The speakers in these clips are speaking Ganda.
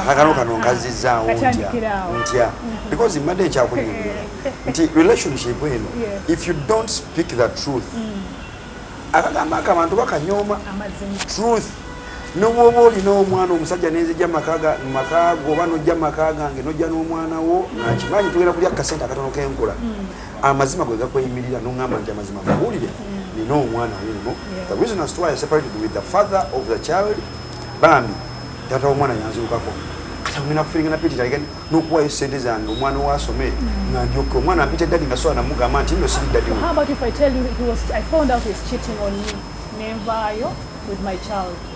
akakano kano nkazizaawo ntya mm-hmm. because mbadde ekyakunyumira nti relationship eno if you don't speak the truth mm. akagambo ako abantu bakanyooma truth nobwoba olina omwana omusajja nenzija makaago oba nojja maka gange nojja n'omwana wo nakimanyi tugenda kulya kasente akatono kenkula mm. amazima gwe gakweyimirira nongamba nti amazima mawulire nina omwana wuuno the reason as to why I separated with the father of the child bambi taata womwana yanzirukako kata ngenda kufiringa napitira again nokuwayo sente zange omwana wasome mm. nga ndyoke omwana ampita dadi nga sola namugamba nti no siri dadi nenvaayo with my child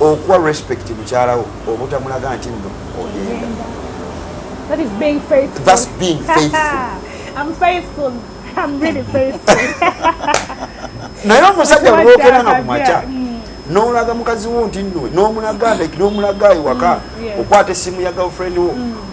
okuwa respect mukyalawo obutamulaga nti no ogenda naye omusajja bwogera nga kumakya mm. nolaga mukazi wo nti no nomulaga nomulaga ewaka mm, okwata esimu ya girlfriend wo mm.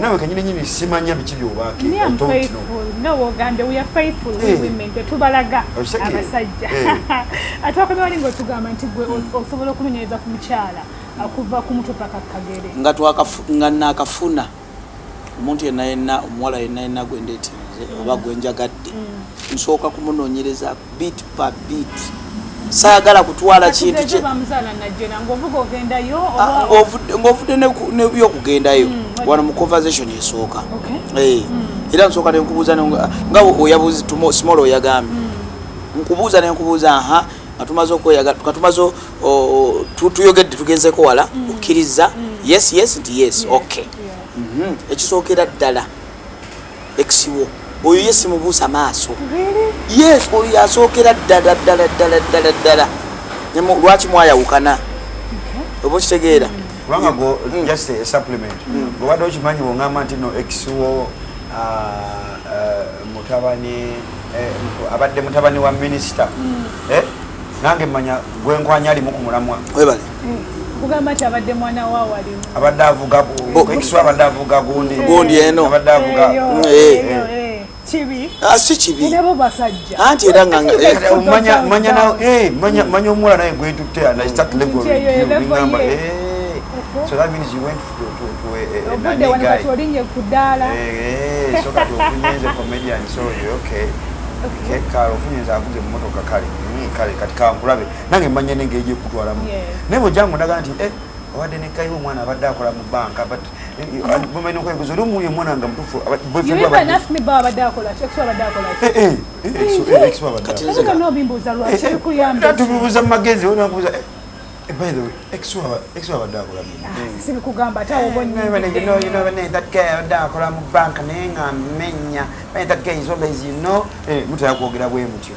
nawe kanyini nyini simanya biki byobake i don't know no wogande we are faithful hey. Eh. women tetubalaga abasajja hey. Eh. atwakomye wali ngotugamba nti gwe hmm. osobola okunonyereza ku mukyala akuva ku mutwe paka kagere nga twakafu nga nakafuna omuntu yenna yenna omuwala yenna yenna gwendetinze oba gwenjagadde hmm. nsooka kumunonyereza bit pa bit saagala kutwala kintu kye ng'ovudde nebyokugendayo hmm, wano mu conversation esooka eh, hmm. era nsooka nenkubuuza nga oyabuzi small oyagambye hmm. nkubuuza nenkubuuza aha katumaze okweyagala katumaze tuyogedde tugenzeko wala okkiriza yes yes nti yes okay mhm. ekisookera ddala ex wo oyo ye simubuusa maaso yes oyo yasookera ddala ddala ddala ddala ddala lwaki mwayawukana oba okitegeera kubanga go mm. just a supplement mm. gobadde okimanyi wongamba nti no ex wo ah, ah, mutabani eh, abadde mutabani wa minisita mm. eh? nange manya gwenkwanya alimu ku mulamwa webale kugamba nti abadde mwana wa wali abadde avuga ekiswa abadde avuga gundi gundi eno abadde avuga Ah, si kibi anti era manya omuwala naye gwentutte ofunyenza avuga emotoka kale hmm, kale kati kankulabe nange mmanya ne ngeri gyekutwalamu naye bwejangu ndaga nti eh, abadde nekaiwa omwana abadde akola mu banka but bamaina okwebuza oli omuwuyo omwana nga mutufu tubibuza mu magezi onakubuza akola mu banka naye nga menya mutera kwogera bwe mutyo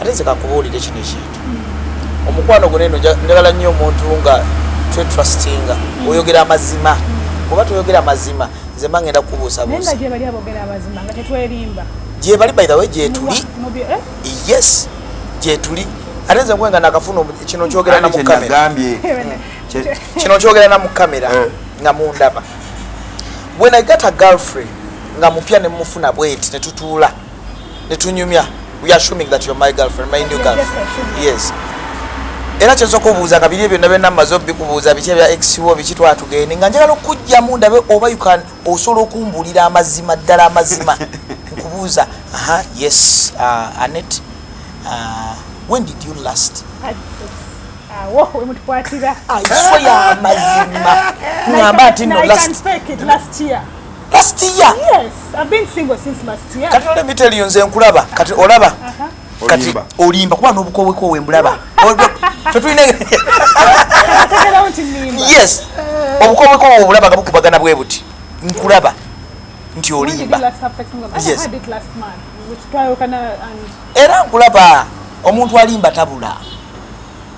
ate nze kakubuulire kino ekintu omukwano gwo neno njagala nnyo omuntu nga twetrustinga mm. oyogera amazima mm. oba toyogera mazima nze mba ngenda kukubuusabuusa gyebali by the way gyetuli eh? yes gyetuli ate nze nkwenga nakafuna kino kyogera na mukamera kino kyogera na mukamera eh. nga mundaba when i got a girlfriend nga mupya nemufuna bweti netutuula netunyumya we are assuming that you're my girlfriend my new girlfriend yes era kyenza okubuuza nga biri byonna byonna mumaze obikubuuza biki ebya exwo biki twatugende nga njagala okujjamu ndabe oba ukan osobola okumbulira amazima ddala amazima nkubuuza aha yes uh, anet uh, when did you last awo wemutukwatira aiswe yamazima ngamba ati no last last year yes i've been single since last year kati ole miteli yonze nkulaba kati olaba uh -huh. kati olimba kuba nobukowe ko wembulaba fetulina yes obukowe ko wembulaba nga bukubagana bwe buti nkulaba nti olimba yes era nkulaba omuntu alimba tabula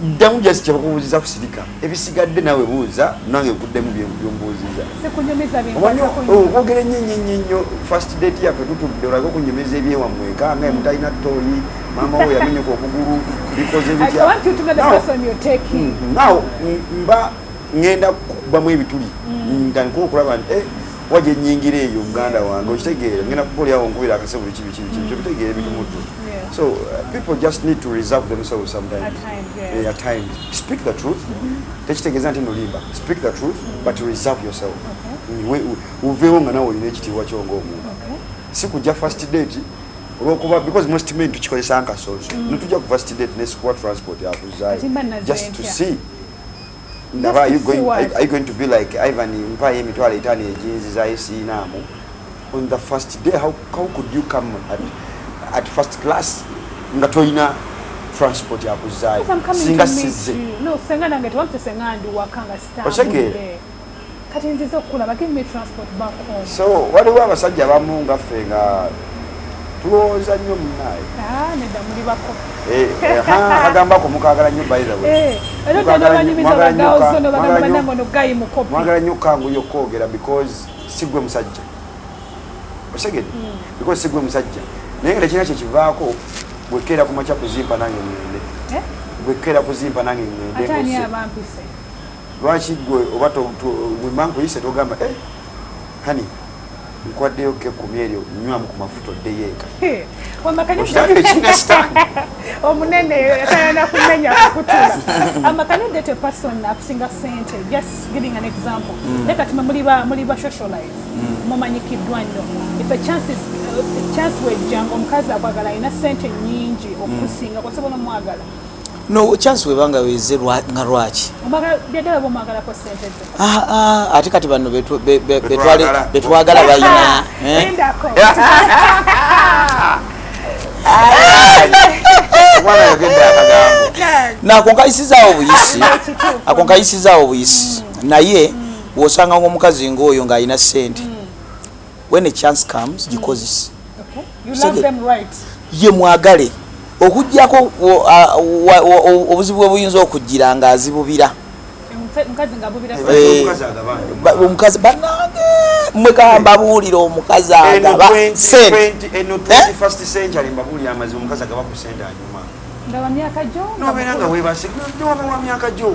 ddamu just kyebakubuuziza kusirika ebisigadde nawe buuza nange nkuddemu byombuuziza okwogera ennyo nnyo nnyo nnyo first date yaffe tutudde olage okunyumiza ebyewamwe eka nga emutalina tooyi maama wo yamenyeka okugulu bikoze bitya naw mba ngenda kubamu ebituli mm. nga nkuba okulaba nti eh, kuba gye nnyingira eyo muganda wange okitegeera ngenda kuba oli awo nkubira akase buli kibi kibi kibi kyobitegeera ebintu muddu so uh, people just need to reserve themselves sometimes at times, yeah. yeah, at times. speak the truth mm-hmm. tekitegeeza nti nolimba speak the truth mm-hmm. but reserve yourself uveewo mm, nga nawe olina ekitiibwa kyo ngaomuntu si kujja first date olwokuba because most men tukikozesa nkasozo mm. netujja ku first date nesikuwa transport akuzayo just to see ndaba are you going, are, are you going to be like ivan mpayo emitwalo etaano ejinzi zayo siinaamu on the first day how, how could you come at, at first class nga tolina transport yakuzaayo singa sizze osegere kati nziza okukulaba give me transport back home so waliwo abasajja abamu nga ffe nga tulowooza nnyo munaye ah, nedda muli bako eh, eh, agamba ko mukagala nnyo bythewayagala eh, nnyo kanguyo okwogera because sigwe musajja osegede hmm. because sigwe musajja naye nga tekirina kyekivaako bwekeera kumakya kuzimba nange ngende bwekeera kuzimba nange ngende Lwaki gwe oba wemba nkuyise togamba eh, hani nkwaddeyo ke kumi eryo nywamu ku mafuta oddeyo eka omunene atayana kumenya kukutula amakani odete person akusinga sente just giving an example mm. naye kati muli ba socialize mm. mumanyikiddwa nnyo if a chance is chance wejjanga omukazi akwagala alina sente nyingi okusinga mm. kwasobola omwagala no chance webanga weze nga lwaki ah, ah, ate kati banno betwagala bayina eh? nakonkayisizaawo obuyisi akonkayisizaawo obuyisi mm. naye mm. wosanga ngaomukazi ngaoyo ng'alina sente mm. when a chance comes gikozese ye mwagale okujjako obuzibu bwe buyinza okujjira nga azibubira omukazi banange mwe gamba buulira omukazi agaba sentenobeera nga webase nobawa myaka gyo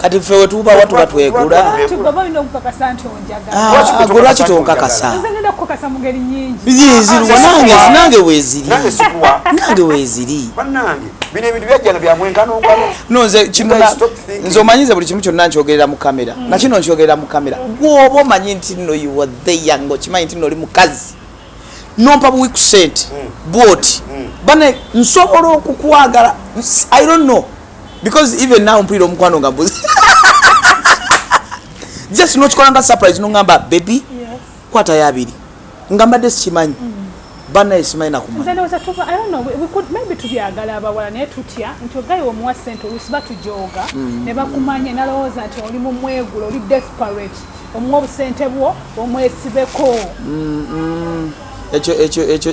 kati ffe wetubawa tuba twegulagulwaki tonkakasanange wezirinange weziri nze omanyize buli kimu kyonna nkyogerera mu kamera mm. nakino nkyogerera mu kamera gwoba omanyi nti no uwatheyang okimanyi nti noli mukazi nompa buwi ku sente mm. bwoti mm. bane nsobola okukwagala i don't know because even now mpulira omukwano nga mbuzi just nokikola nga surprise nongamba baby kwata yabiri nga mbadde sikimanyi mm. banaye simanyi nakumanyitubyagala abawala naye tutya nti ogayi omuwa sente olusi batujoga mm. ne bakumanya nalowooza nti oli mu mwegula oli desperate omuwa obusente bwo omwesibeko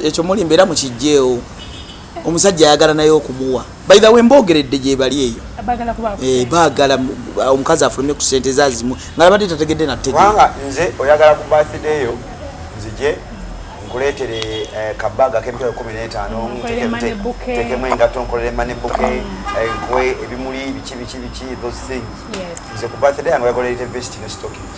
ekyo muli mbeera mukijjeewo omusajja ayagala naye okumuwa by the way mbogeredde gyebali eyo bagala eh, omukazi afulume ku sente zazimu nga abadde tategedde nategewanga nze oyagala ku birthday yo nzije nkuleetere eh, kabaga kemitwalo kumi n'etaano tekemu engatto nkolere mane buke eh, nkwe ebimuli biki biki biki those things nze ku birthday yange oyagala erete vesti ne stockings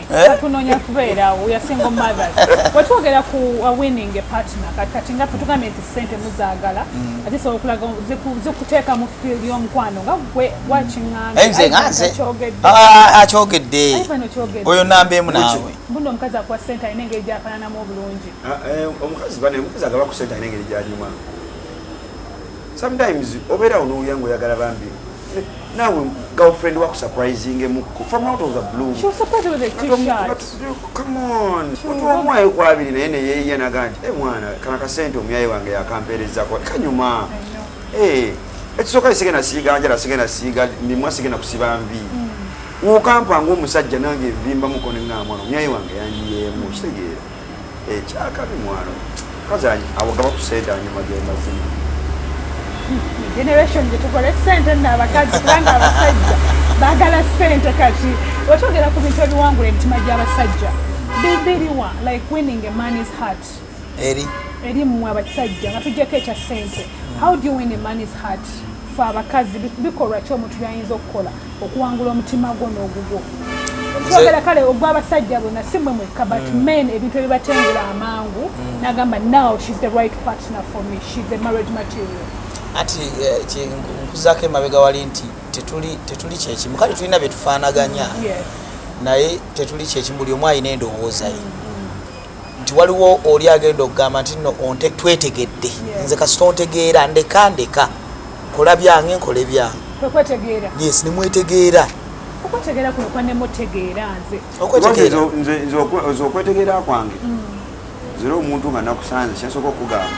eh? tunonya kubeera we are single mothers wetwogera ku uh, winning a partner kati kati nga tugambye nti sente muzagala mm. ate sobola okulaga zikuteeka mu field y'omukwano nga gwe wakingangakyogedde ah, ah, oyo namba emu naawe mbuno omukazi akuwa sente alina engeri gyafananamu obulungi ah, eh, omukazi bane omukazi agaba ku sente alina engeri gyalimu sometimes obeera onowuya nga oyagala bambi Now, girlfriend work surprising muko from out of the blue. She was surprised with a t-shirt. Come on. Mtu wa mwae kwa abili na yene yeye yana gani. Eh mwana, kana kasente umyaye wange ya kampere zako. Kanyuma. Eh, ekisoka isige na siga, anjala sige na siga, mimwa sige na kusiba mvi. Mm. Ukampa ngu musajja nange vimba mkone nga mwana. Umyaye wange yanji ye mu. Shite gere. ekyakabi eh, mwano kazi awo gaba kusente anyuma gemazima generation gyetukole sente nabakazi kubanga abasajja bagala sente kati wetwogera ku bintu ebiwangula emitima gy'abasajja bibiriwa like winning a man is heart eri eri mmwe abasajja nga tujjako ekya sente how do you win a man is heart fe abakazi bikolwa ki omuntu byayinza okukola okuwangula omutima gwo n'ogugwo kyogera kale ogw'abasajja bona si mwe mwekka but mm. men ebintu ebibatengula amangu mm. nagamba now she's the right partner for me she's the marriage material ati eh, nkuzako emabega wali nti tetuli kyekimu kale tulina byetufaanaganya naye tetuli kyekimu buli omu alina endowooza ye mm. nti waliwo oli agenda okugamba nti no onte twetegedde nze kasita ontegeera ndeka ndeka nkola byange nkole byange yes nemwetegeera okwetegeera kuno kwanemutegeera nze okwetegeera kwange mm. zira omuntu nga nakusanze kyasooka okugamba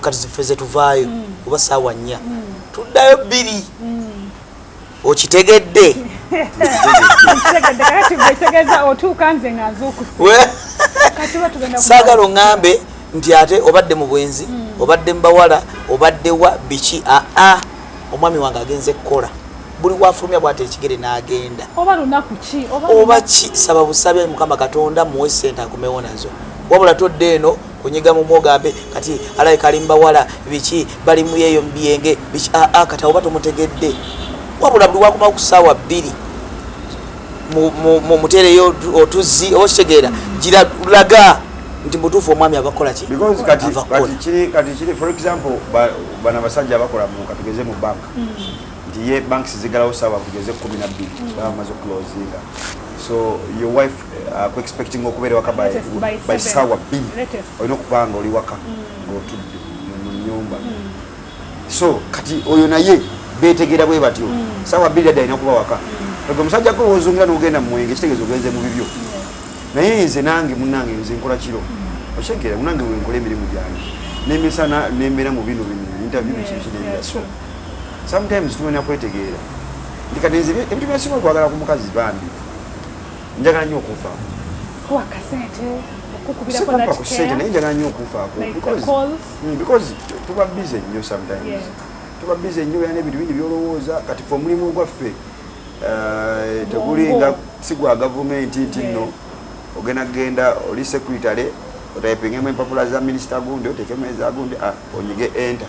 kati zife zetuvaayo mm. oba saawa nnya mm. tuddayo bbiri mm. okitegedde saagala oŋambe nti ate obadde mu bwenzi obadde mu bawala obadde wa biki aa omwami wange agenze kukola buli wafulumya bwate ekigere n'agenda oba ki saba busabe mukama katonda muwe sente akomewo nazo wabula todde eno kunyiga mumu ogambe kati alaye kalimbawala biki bali muyeyo mubiyenge biki aa ah, ah, kati awoba tomutegedde wabula buli wakuma okusaawa bbiri mutereyo otuzzi oba kitegeera giralaga nti mutuufu omwami abakolaki bana basajja abakola katugeze mu bank mm. nti ye banks zigalawo saawa kugeze kumi nabbiri mm. bamaze okulozinga so your wife aku expecting okuba eri waka by, by, by sawa bbiri olina okuba nga oli waka mm. ng'otudde mu nyumba mm. so kati oyo naye betegeera bwe batyo mm. sawa bbiri adda alina okuba waka oge omusajja gwe wozungira n'ogenda mu mwenge kitegeeza ogenze mu bibyo naye nze nange munange nze nkola kiro okitegeera munange wenkola emirimu gyange nemisana nembeera mu bino bino interview bikibikinebira so sometimes tumenya kwetegeera ndikatenze ebintu byasinga okwagala ku mukazi bambi njagala nyo okunfaako kuwa kasente okukubirakusente naye njagala nyo okunfaako mm, because tuba busy nnyo sometimes tuba busy nnyo yana ebintu bingi byolowooza kati fe omulimu ogwaffe eh, tegulinga si gwa gavumenti nti nno ogenda genda oli sekuritale otayipingemu empapula za minisita gundi otekemu ezagundi ah, onyige enter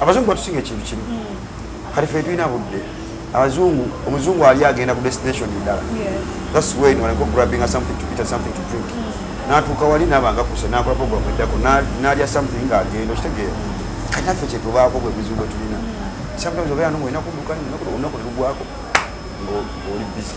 abazungu batusinga ekintu kimu kati fe tulina budde abazungu omuzungu ali agenda ku destination endala thats when wanako grabbinga something to eat something to drink mm. natuuka wali nabanga kuse nakola program eddako nalya something nga agenda okitegeera kati naffe kyetubaako bwe buzibu bwe tulina mm. sometimes obeera nomu olina kudduka nolunaku nelugwako ng'oli busy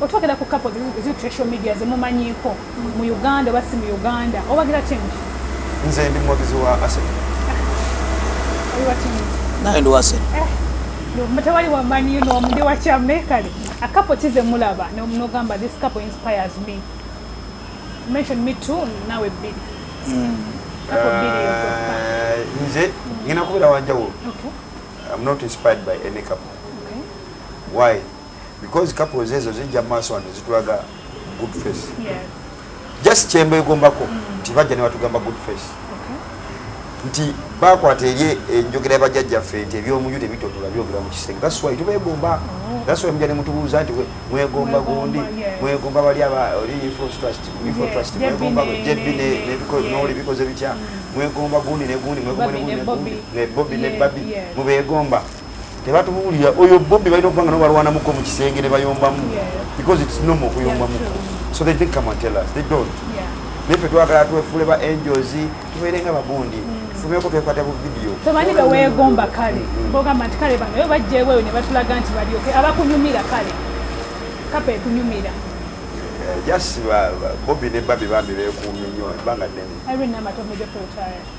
otwogera ku kapo zitresho media zemumanyiiko mu uganda oba si mu uganda obagira change nze ndi muwagizi wa asen naye ndi wasen mutewali eh, wamanyi nomundi wakyame kale akapo kize mulaba nogamba this couple inspires me mention me too nawe bbiri hmm. eh, nze ngina kubeera wanjawulo i'm not inspired by any couple why because couples ezo zijja maaso wano zitulaga good face just kyembegombako mm. nti bajja ne batugamba good face nti bakwata eri enjogera ya bajjajjaffe nti ebyomuju tebitotola byogera mu kisenge that's why tubegomba oh. that's why mujja ne mutubuuza nti mwegomba gundi mwegomba bali abainfotrustmwegomba jebbi noli bikoze bitya mm. mwegomba gundi ne gundi mwegomba ne gundi ne bobi ne babi mubegomba tebatubuulira oyo bobi balina okubanga no balwanamuko mu kisenge ne bayombamu because its normal okuyombamuko so they think come and tell us they don't naye fe twagala twefule ba angels tubeere nga bagundi mm. tufumeko twekwata bu vidiyo tomanyi beweegomba kale mm. bogamba nti kale bano yo bajjeweyo ne batulaga nti balyoke abakunyumira kale kapa ekunyumira eh, just bobi ne babi bambi bekuumye nnyo ebanga nnene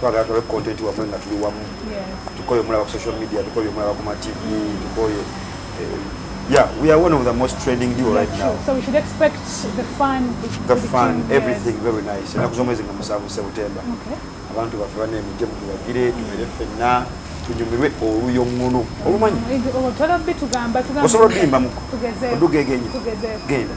twagala tulabe content wamwe nga tuli wamu tukoye omulaba ku social media tukoye omulaba ku matv tukoye eh, yeah we are one of the most trending duo right now so we should expect the fun the fun everything very nice enaku z'omwezi nga musanvu septemba abantu baffe banemujje mutubagire tumere ffenna tunyumirwe oluyoŋŋono olumanyi osobola olimba muko odugegenye genda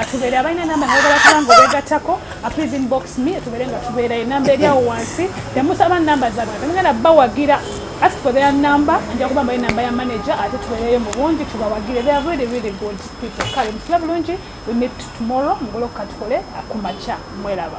atubere abalina namba nabagala kubanga obegatako please inbox me atubere nga tubeera enamba eri awo wansi nemusaba namba zabwe temugenda bawagira ask for their number nja kuba mbaye namba ya manager ate tubeereyo mu bungi tubawagire they are really really good people kale mutula bulungi we meet tomorrow mugolokuka tukole akumakya mwelaba